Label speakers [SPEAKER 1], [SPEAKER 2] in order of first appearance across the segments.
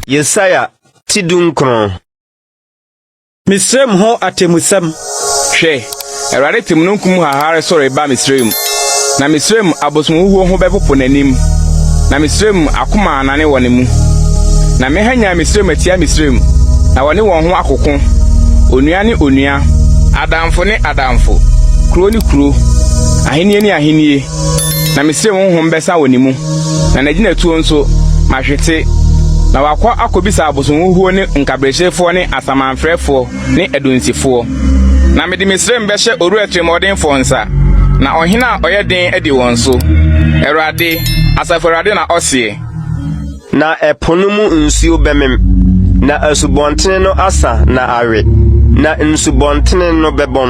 [SPEAKER 1] Yesaia ti dunkron.
[SPEAKER 2] Misraim ho atemmusɛm. Hwɛ,
[SPEAKER 3] Awurade te mununkum mu hahare so reba Misraim, na Misraim abosomhuhuo ho bɛpopo n'anim, na Misraim akoma anane wɔ ne mu. Na mɛhwanyan Misraim atia Misraim, na wɔne wɔn ho akoko, onua ne onua, adamfo ne adamfo. Kamfo, kurow ne kurow, ahenni ne ahenni, na me srɛ honhom bɛsa wɔ ne mu, na n'agyinatuo nso, mahwete, na wakɔ akɔbisa abosonhuhuo ne nkabrehyefɔɔ ne asamanfrɛfoɔ ne adonsifoɔ. Na mede me srɛ me bɛhyɛ owura atirimuɔdenfoɔ nsa, na ɔhene a ɔyɛ den adi wɔn so, Awurade, Asafo Awurade na ɔseɛ. Na
[SPEAKER 1] ɛpo no mu nsuo bɛmem, na asubɔntene no asa na awe, na nsubɔntene no bɛbɔn,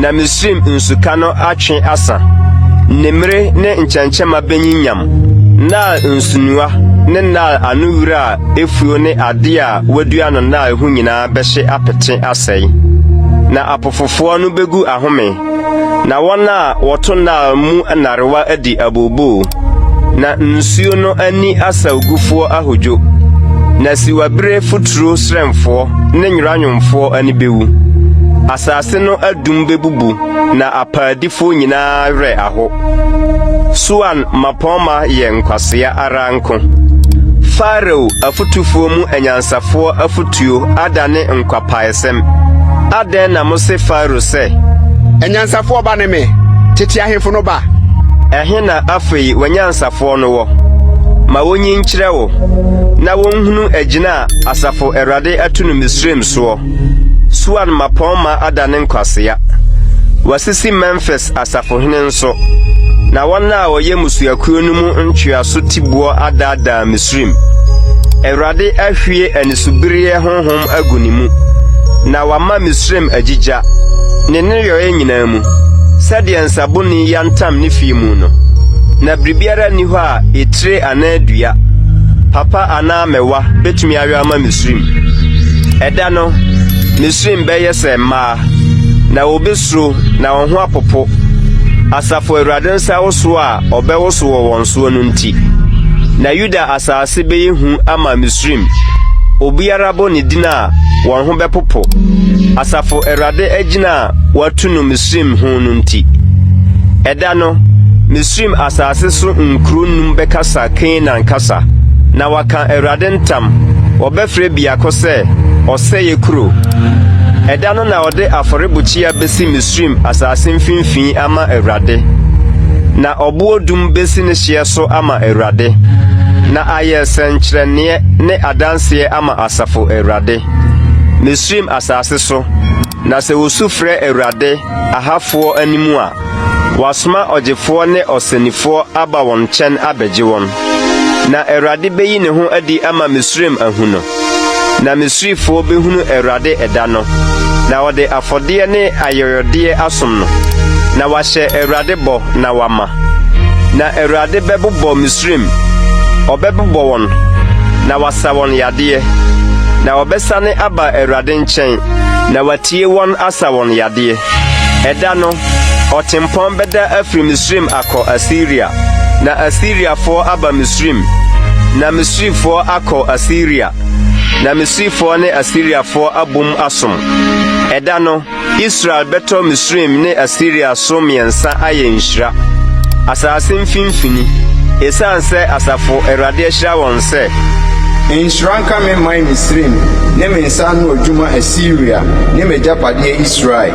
[SPEAKER 1] na Misraim nsuka no atwe asa. Nimire ne nkyɛnkyɛma bɛnyinyam, Nile nsunoa ne Nile ano wura a efuo ne adeɛ a wɔadua no Nile ho nyinaa bɛhye apete asɛe, na apofofoɔ no bɛgu ahome. Na wɔn a wɔto Nile mu nnarewa adi abooboo, na nsuo no ani asaw gufoɔ ahodwo, na siwabire futuro srɛmfoɔ ne nworanwomfoɔ ani bewu. Asase no adum bebubu na apaadifoɔ nyinaa werɛ aho. Soan mmapɔmma yɛ nkwasea ara nko. Farao afotufoɔ mu anyansafoɔ afotu tuo adane nkwapaesɛm. Adɛn na mose Farao sɛ. Anyansafoɔ
[SPEAKER 4] ba ne me, tete ahemfo no ba? Ɛhe na
[SPEAKER 1] afei w'anyansafoɔ no wɔ? Ma wonyi nkyerɛ wo, na wonhunu agyina a Asafo Awurade atu no Misraim soɔ. Soan mmapɔmma adane nkwasea. Wasisi Memfis asafohene nso, na wɔn a wɔyɛ mmusuakuo no mu ntweaso tiboɔ adaadaa Misraim. tirim. Awurade ahwie anisobireɛ honhom agu ne mu, na wama Misraim agyigya, ne nneyɔeɛ nyinaa mu, sɛdeɛ nsaboni yantam ne fie mu no. Na biribiara nni hɔ a etire anaa dua, papa anaa mɛwa bɛtumi awe ama Misraim. Ɛda no, Misraim bɛyɛ sɛ mmaa, na wɔbɛsuro na wɔn ho apopo. Asafo Awurade nsa wosoɔ a ɔbɛwoso wɔ wɔn soɔ no nti. Na Yuda asaase bɛyɛ hu ama Misraim, obiara bɔ ne din a, wɔn ho bɛpopo, Asafo Awurade agyina a wɔatu no Misraim ho no nti. Ɛda no, Misraim asaase so nkuro nnum bɛkasa Kanaan kasa, na wɔaka Awurade ntam, wɔbɛfrɛ biako sɛ Ɔsɛeɛ Kuro. Ɛda no na ɔde afɔrebukyia bɛsi Misraim. Misraim asase mfinimfini ama Awurade, na ɔbo odum besi ne hyeɛ so ama Awurade, na ayɛ sɛnkyerɛnneɛ ne adanseɛ ama asafo Awurade, Misraim asase so, na sɛ wɔsu frɛ Awurade ahafoɔ anim a, wasoma ɔgyefoɔ ne ɔsɛnifoɔ aba wɔn nkyɛn abɛgye wɔn. Na Awurade bɛyi ne ho adi ama Misraim ahunu. Na Misrifoɔ bɛhunu Awurade ɛda no, na wɔde afɔdeɛ ne ayɔyɔdeɛ asom no, na wɔahyɛ Awurade bɔ na wɔama. Na Awurade bɛbobɔ Misraim, ɔbɛbobɔ wɔn, na wasa wɔn yadeɛ. Na wɔbɛsane aba Awurade nkyɛn, na watie wɔn asa wɔn yadeɛ. Ɛda no, ɔtempɔn bɛda afiri Misraim akɔ Asiria, na Asiriafoɔ aba Misraim, na Misraim Misrifoɔ akɔ Asiria, na Misrifoɔ ne Asiriafoɔ abom asom. Ɛda no, Israel bɛtɔ Misraim ne Asiria so mmiɛnsa ayɛ nhyira. Asase mfimfini, esiane sɛ asafo Awurade ahyira wɔn sɛ. Nhyira nka
[SPEAKER 5] me man Misraim ne me nsa ano adwuma Asiria ne m'agyapadeɛ Israel.